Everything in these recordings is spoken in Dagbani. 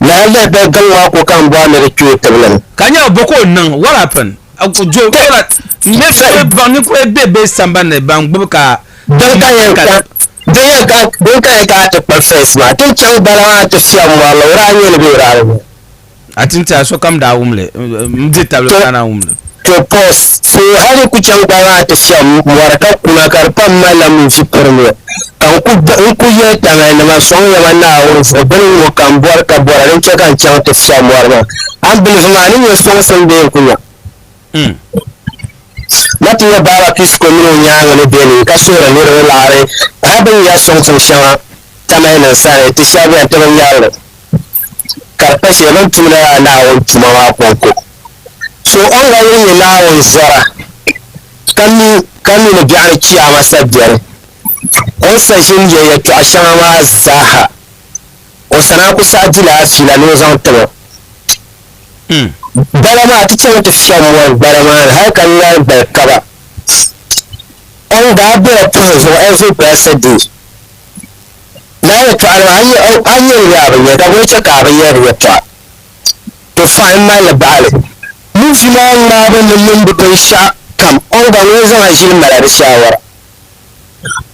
Lahi lihi bɛ gaŋ maa ko ka n bɔhi ni di kpi o tibili ni. Ka nya bɔ ka o niŋ? What happened? Joe Kola me kuli baŋ ninkura be bɛ sambani ni ban gbubi ka Din ka yɛn ka din ka yɛn ka a ti kpa first maa ti chaŋ bala maa ti fiɛbi mɔri la o daa nyɛ ni bɛ o daa bi nyɛ. A ti tiɛha sokam daa wum li, m di tabili ka naan wum li. To pɔ so hali ku chaŋ gba maa ti fiɛm mɔri ka kuna ka di pam mali la munfi pirili. Ka n ku n ku yɛli Tangali nima sɔŋ ya ma Naawuni zuɣu bini n ŋɔ ka m bɔri ka bɔra din chɛ ka n chaŋ ti fiɛm mɔri maa. Ambilifu maa ni nyɛ sɔŋsim bee n ku nya? Na ti yɛ Baaba Pisiko mini o nyaaŋa ni bɛ ni ka suhiri niriba laɣiri pahi bini ya sɔŋ tiŋ shɛŋa tamai nin sani ti shɛba bɛn ti bi nyarili ka di pa shɛli bini tumdi lala Naawuni tuma maa kɔŋko. So o ni ga yuli nyɛ Naawuni zɔra ka mi ka mi ni biɛɣuni Chiyaama sabiɛri, o ni sa ʒini yɛ yɛtɔɣa shɛŋa maa zaa ha. O sana ku saɣi dila fiila ni o zaŋ tiri o. Gbala maa ti chaŋ ti fiɛm mɔri gbala maa ni hali ka ŋari gbali kaba. O ni daa be o pɔhim zuɣu every blessed day. Lala yɛtɔɣa maa a nya li bee a bi nya li? Daguli chɛ ka a bi yɛri yɛtɔɣa. To fine m mali li bahi li. Movie maa ŋmaabu ni niŋbu binshɛɣu kam o ni gba ŋun zaŋ a ʒili mala di shaawara.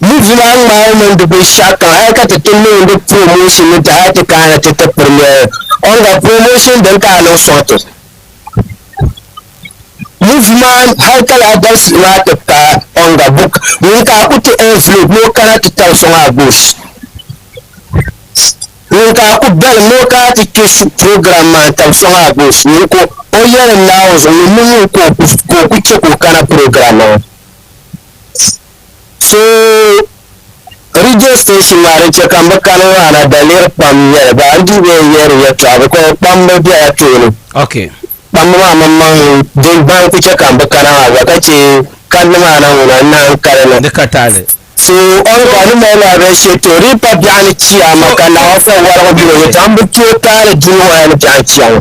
Yi vila ŋmaai mini di binshɛɣu kam hal ka ti ti niŋ di promotion ni ti hal ti kana ti ti piri noli ɔnga promotion din ka a niŋ sɔŋ ti movie maa hal ka lahi dabisili maa ti paai ɔnga book ŋun ka a ku ti envelope ni o kana ti tabi sɔŋ a gosh ŋun ka a ku dalim ni o kana ti kpe su program maa n tabi sɔŋ a gosh ŋun ka o yɛlim Naawuni zuɣu ŋun mini ŋun ka o ku chɛ ka o kana program maa. So radio station maa din chɛ ka m bi kani maa na daliri pam n-nyɛli ba n-dii be n yihiri yɛltɔɣa because kpambu bela tooni Okay. kpambu maa mini maŋ din bahi ku chɛ ka m bi kana maa gba ka chɛ kandi maa na ŋuna n-naan kali na Di ka taali. so ɔn ka di mali la bɛ shɛ to di pa biɛɣu ni chiyaama ka naawuni fɔ warigu bɛ ni yɛltɔɣa m bi tooi taali dunia maa ni biɛɣu ni chiyaama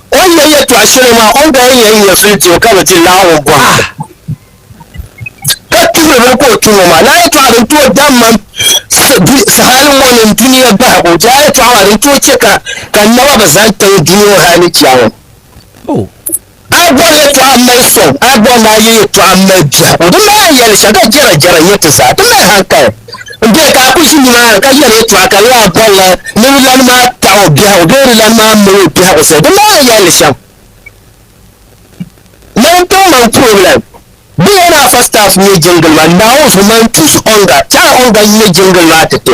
O ni yɛn yɛtɔɣ shɛli maa, o ni daa yɛn yɛn fili ti o ka bɛ ti laɣim o bɔha ka tuhiri bini ka o tuhi o maa. Naa yɛtɔɣa din tooi dabi man sahali ŋɔ ni dunia bahigu, Jaa yɛtɔɣa maa din tooi chɛ ka ka n naba bi zani tiŋ dunia ŋɔ hal ni chia ŋɔ. A yi bɔri yɛtɔɣa m-mali sɔŋ, a yi bɔri ni a yɛ yɛtɔɣa m-mali biɛhigu, di mali a yɛli shɛm ka jɛra jɛra n-nyɛ ti zaa ti mali hankali. N-dee ka a kul ʒi nimaani ka yɛli yɛtɔɣa ka laa bolila ni di lan maa taɣ o biɛhigu bee di lan maa mali o biɛhigu shɛli din maa ni yɛli li shɛm. Mani tiŋ man puroblɛm. Di lɛn a fa staff n-nyɛ jiŋgili maa, Naawuni zuɣu man tuus ɔŋga, chɛɣila ɔŋga n-nyɛ jiŋgili maa ti ti.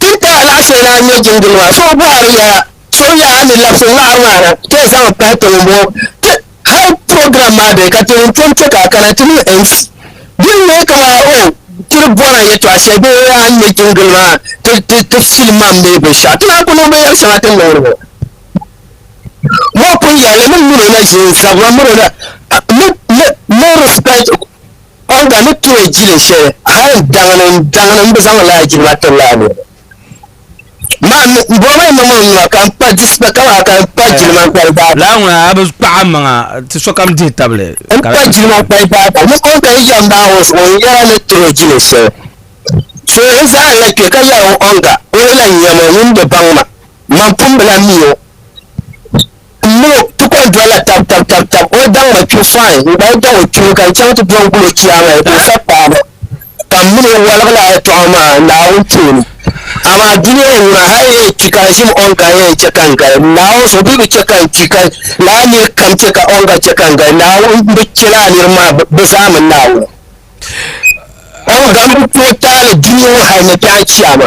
Tinti alaɣisili na n-nyɛ jingili maa. So bɔhiri ya, so n-yɛn a ni labisi ŋaɣiri maa na ka yi zaŋ pahi tiŋ m-bɔŋɔ. Ti hal program maa bɛ ka ti ni tom kpe ka a kana ti niŋ MC. Din nyɛ kaman o ti ni bɔna yɛtɔɣ shɛli bee a ni nyɛ jingili maa ti ti ti film maa m-bee binshɛɣu. Ti naan ku niŋ binyɛr shɛŋa ti ni niŋdi ŋɔ. Mɔɣu pun yɛli li, min min o na ʒi n-zabira min o na, a mi mi mi respect. Olga ni tooi jili shɛli hali daŋni daŋni m bi zaŋ laa jili ma tiri laa niriba maa mi m bɔŋɔ maa mmaŋmaŋ nuu ka m pa dispa ka maa ka m pa jili ma kpali baata. Laa ŋuna a bi kpaɣi a maŋa ti sokam dihi tabili. M pa jili ma kpali baata ni Olga yi yɛm bahi o zuɣu n yɛra ni tooi jili shɛli suhili zaa n lahi kpe ka yɛra o Olga o yi lahi nyam o ŋun bi baŋ ma man pun bi lahi mi o. N mini o, ti kɔŋ doli la tab tab tab tab. O daŋ ma kpibu fai, n gba yi daŋ o kpibu, ka n chaŋ ti do n-gul o Chiyaama ya din sa paanu, ka m mini o waligi la yɛtɔɣa maa Naawuni tooni. Amaa dunia n ŋuna hal yɛn kpi ka n ʒim Ɔŋga yɛn chɛ ka n gali Naawuni so bee bi chɛ ka n kpi, ka lala nir kam chɛ ka Ɔŋga chɛ ka n gali Naawuni, m bi chɛ lala nir maa bɛ zaa mini Naawuni. Ɔŋga m bi tooi taali dunia ŋɔ hal ni biɛɣu Chiyaama.